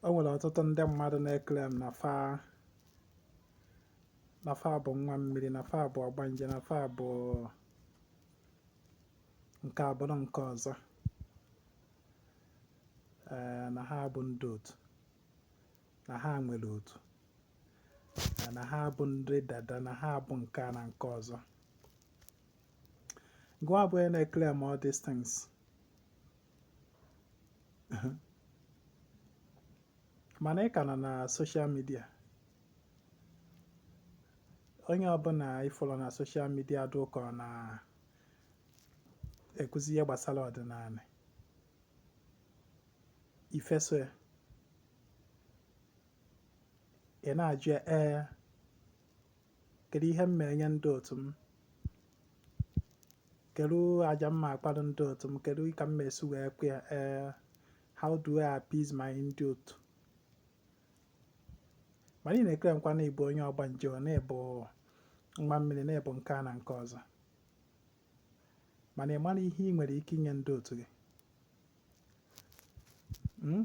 o nwere ọtụtụ ndị mmadụ na-eclaim na fa na fa bụ nwa mmiri na fa bụ ọgbanje na fa bụ nke a bụrụ nke ọzọ ee na ha bụ ndị otu na ha nwere otu ee, na ha bụ ndị dada na ha bụ nke a na nke ọzọ gụwa bụ onye na-eclaim all these things mana ị ka nọ na social media onye ọbụla ị fụlụ na social media dị ka ọ na-akụzi ihe gbasara ọdịnala i feso ya ị na-ajụ ya ee Kedu ihe m ma-enye ndị otu m? Kedu aja m ma-akpara ndị otu m? Kedu ka m ma-esi wee kwe ya? Ee, how do I appease my ndị otu? Mana ị na-eclaimkwa na ị bụ onye ọgbanje, o na ị bụ nwa mmiri, na ị bụ nke a na nke ọzọ. Mana ị marọ ihe ị nwere ike inye ndị otu gị. Hmm?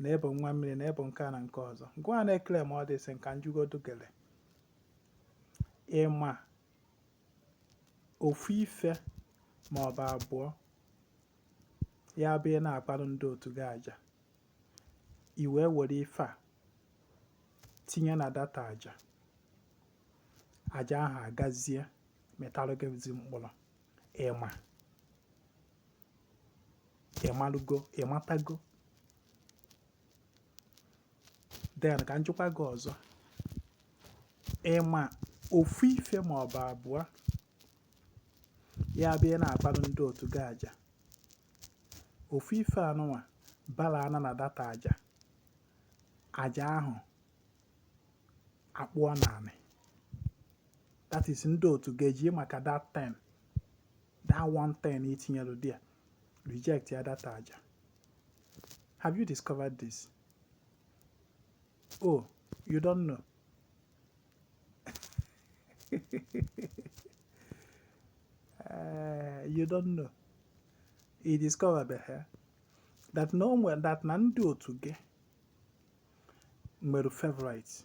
na ị bụ nwa mmiri na ị bụ nke a na nke ọzọ gụwa na-eclaim all these things ka m jụgodu gị ee ị ma ofu ife ma ọ bụ abụọ ya bụ ị na-akpalụ ndị otu gị aja i wee were ife a tinye na that aja aja ahụ agazie mịtalụ gị ezi mkpụrụ ị ma ị malụgo ị matago then ka m jụkwa gị ọzọ ị ma ofu ife ma ọ bụ abụọ ya bụ ị na-akpara ndị otu gị aja ofu ife anụnwa bala na na that aja aja ahụ akpụọ n'anị that is ndị otu ga-eji maka that thing that one thing i tinyelu there reject ya that aja have you discovered this oh you don't know uh, you don't know i discover behe eh? that na o nwere that na ndị otu gị nwere favorite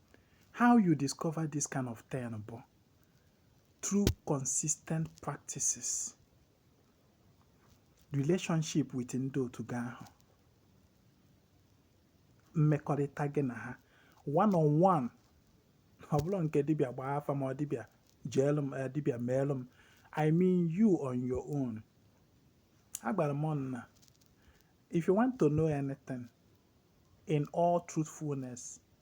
how you discover this kind of thing bụ through consistent practices relationship with ndị otu gị ahụ mmekọrịta gị na ha one on one ọ bụrọ nke dibịa gbaa afa ma ọ dibịa jeelụ m eh, dibịa meelụ m i mean you on your own agwara m ụnụ na if you want to know anything in all truthfulness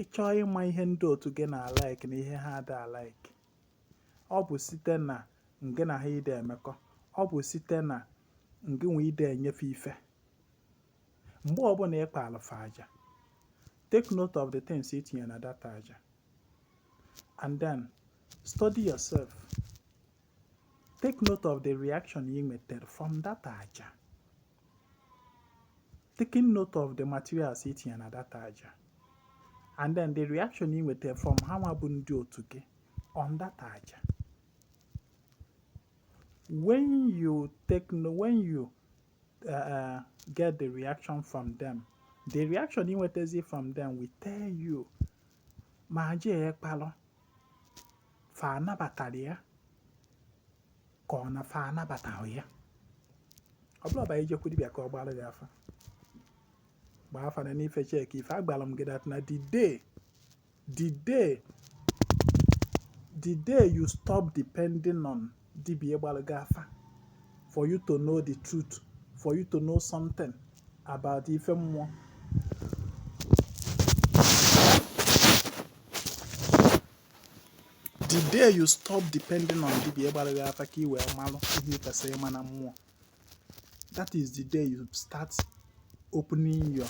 ị chọọ ịma ihe ndị otu gị na-alike na ihe ha ada alike ọ bụ site na ngị na ha ide emekọ ọ bụ site na ngị nwa ide enye fa ife mgbe ọbụla ị kpaalụ fa aja take note of the things i tinye na that aja and then study yourself take note of the reaction i nwetere from that aja taking note of the materials i tinye na that aja and then the reaction ị nweta from ha nwa bụ ndị otu gị on that aja when you take no when you uh, uh, get the reaction from them the reaction ị nwetazi from them will tell you ma aja ị kpalụ fa nabatara ya ka ọ na fa anabataghị ya ọ bụrọ by ijekwu dibịa ka ọ gbaara gị afa gbaa afa nenee ife checkie ife agwara m gị that na the day the day the day you stop depending on dibia gbalụ gị afa for you to know the truth for you to know something about ife mmụọ the day you stop depending on dibia gbalụ gị afa ka ị wee malụ ihe ị kwesịrị ịma na mmụọ that is the day you start opening your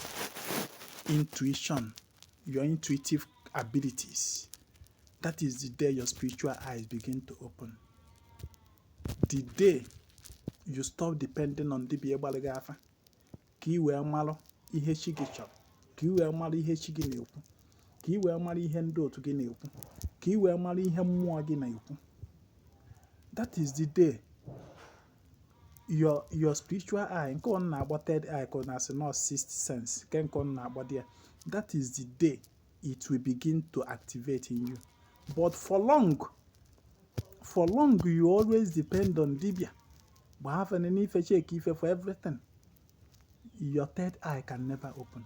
intuition your intuitive abilities. That is the day your spiritual eyes begin to open. The day you stop depending on dibia gbara gị afa. Ka i wee malụ ihe chi gị chọrọ, ka i wee malụ ihe chi gị na-ekwu, ka i wee malụ ihe ndị otu gị na-ekwu, ka i wee malụ ihe mmụọ gị na-ekwu. That is the day your your spiritual eye nke ụnụ na-akpọ third eye ka ọ na-asị na ọ sixth sense nke nke ụnụ na-akpọ dị ya that is the day it will begin to activate in you but for long for long you always depend on dibia gbaa afa nenee ife checkie ife for everything your third eye can never open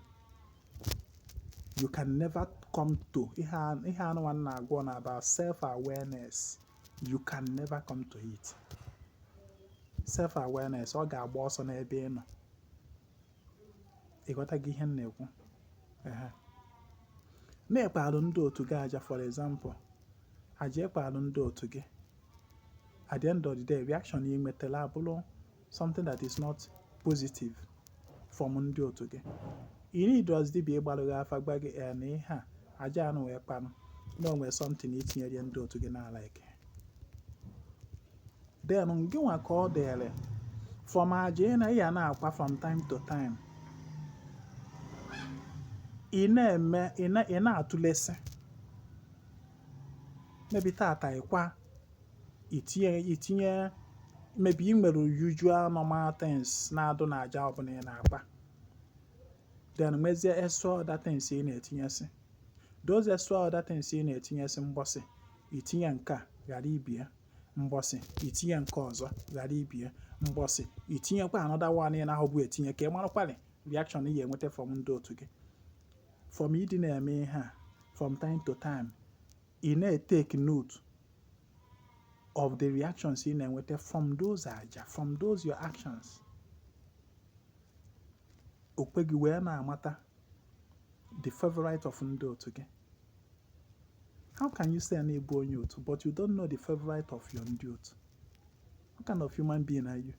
you can never come to ihe a mụwa na-agwa ụnụ about self awareness you can never come to it self awareness ọ ga-agba ọsọ n'ebe ị nọ ị ghọtago ihe m na-ekwu na ị kpalụ ndị otu gị aja for example aja ị kpalụ ndị otu gị at the end of the day reaction ị nwetara abụrụ something that is not positive from ndị otu gị you need us dibia ịgbalụ gị afa gwa gị ee eh, na ihe a aja anụwa ị kpanụ na o nwe something i tinyere ndị otu gị na like then gị nwa ka ọ dịrị from aja ị na ya na-akwa from time to time ị na-eme ị na-atụlesị maybe tata ị kwa i tinye i tinye maybe ị nwere usual normal things na-adụ na aja ọbụla ị na-akpa then mezie extra other things ị na-etinyesị those extra other things ị na-etinyesị mbọsị i tinye nke a ghara ibe ya mbọsị i tinye nke ọzọ ghara ibe ya mbọsị i tinyekwa another one ị nahụbu etinye ka ị marakwarị reaction ị ga-enweta from ndị otu gị from ịdị na-eme ihe a from time to time ị na-etake note of the reactions ị na-enweta from those aja from those your actions o kwe gị wee na-amata the favorite of ndị otu gị how can you say na ị bụ onye otu but you don't know the favorite of your ndị otu what kind of human being are you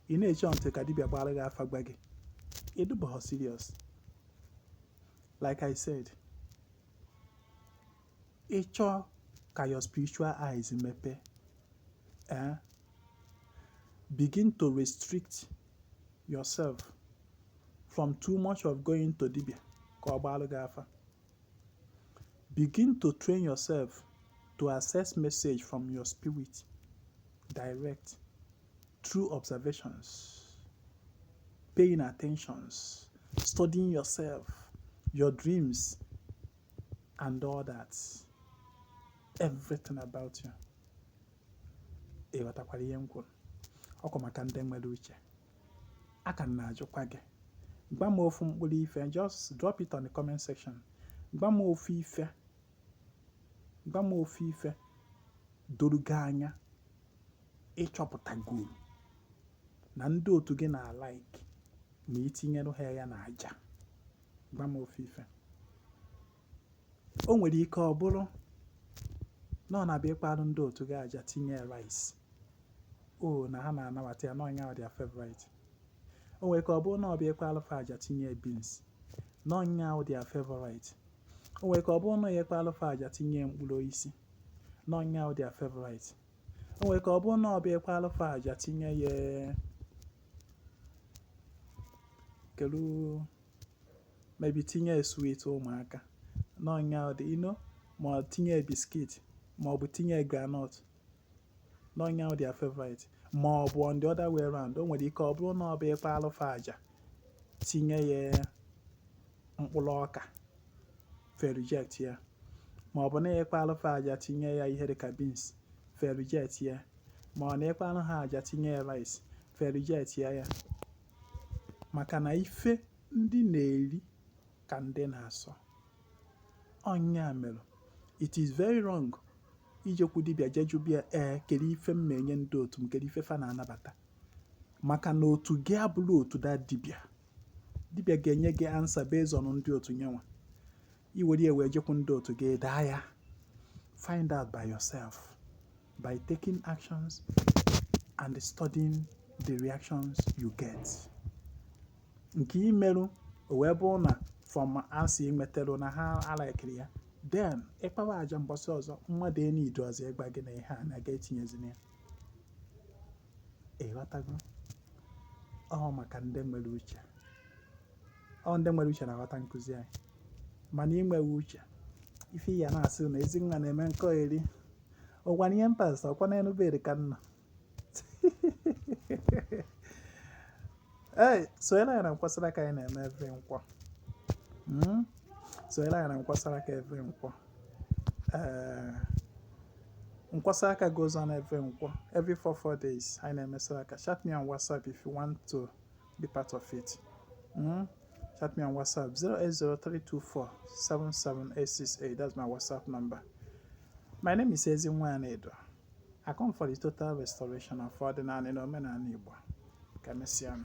ị na-eche ntị ka dibịa gbara gị afa gwa gị ị dụbọghọ serious like i said ị chọọ ka your spiritual eyes mepe eh, begin to restrict yourself from too much of going to dibia ka ọ gbalụ gị afa begin to train yourself to access message from your spirit direct through observations paying attentions studying yourself your dreams and all that everything about you ị ghọtakwara ihe m kwuru ọkwa maka ndị nwere uche a ka m na-ajụkwa gị gwa m ofu mkpụrụ ife just drop it on the comment section gwa m ofu ife gwa m ofu ife doro gị anya ị chọpụtagoolu na ndị otu gị na-alike ma i tinyere ha ya na aja gwa m ofu ife o nwere ike ọ bụrụ na ọ na-abụ ị kparụ ndị otu gị aja tinye rice o na ha na-anabata ya n'ọ nya bụ their favorite o nwere ike ọ bụrụ na ọ bụ ị kparụ fa aja tinye beans n'ọ nya bụ their favorite o nwere ike ọ bụrụ na ya ị kparụ fa aja tinye mkpụrụ osisi n'ọ nya bụ their favorite O nwere ike ọ bụrụ na ọ bụ ị kpaalụ fa aja tinye ya kelu maybe tinye ya sweet ụmụaka n'ọnya ọ dị ino ma ọ tinye ya biscuit ma ọ bụ tinye ya groundnut na nya bụ their favorite ma ọ bụ on the other way round o nwere ike ọ bụrụ na ọ bụ ị kpaalụ fa aja tinye ya mkpụrụ ọka fa reject ya ma ọ bụ na ị kpaalụ fa aja tinye ya ihe dịka beans fa reject ya ma ọ na ị kpaalụ ha aja tinye ya rice fa reject ya ya maka na ife ndị na-eri ka ndị na-asọ ọ nya mere it is very wrong ijekwu dibịa jee jụba ya ee eh, kedu ife m na-enye ndị otu m kedu ife fa na-anabata maka na otu gị abụrọ otu that dibịa dibịa ga-enye gị answer based on ndị otu nya nwa i were ya wee jekwu ndị otu gị daa ya find out by yourself by taking actions and studying the reactions you get nke i merụ o wee bụrụ na from answer ị nwetara na ha alaikiri ya then ị kpawa aja mbọsị ọzọ mmadụ enidu ọzọ ịgwa gị na ihe a na-aga etinyezina ya Ị ghọtago? Ọ maka ndị nwere uche. Ọ ndị nwere uche na-aghọta nkụzi anyị. Mana ị nweghị uche, ife ị ya na-asị na Ezinwa na-eme nkọeri. Ọkwa na ihe mpas, ọkwa n'elu bed ka m nọ. Ee, sonyere anyị na Nkwọ saraka anyị na-eme every Nkwọ. Mm? Sonyere anyị na Nkwọ saraka every Nkwọ. Ee, Nkwọ saraka goes on every Nkwọ, every four four days. Anyị na-eme saraka. Chat me on WhatsApp if you want to be part of it. Mm? Chat me on WhatsApp 08032477868. That's my WhatsApp number. My name is Ezinwa Anaedo. I come for the total restoration of ọdịnala na omenala Igbo. Ka emesịa m.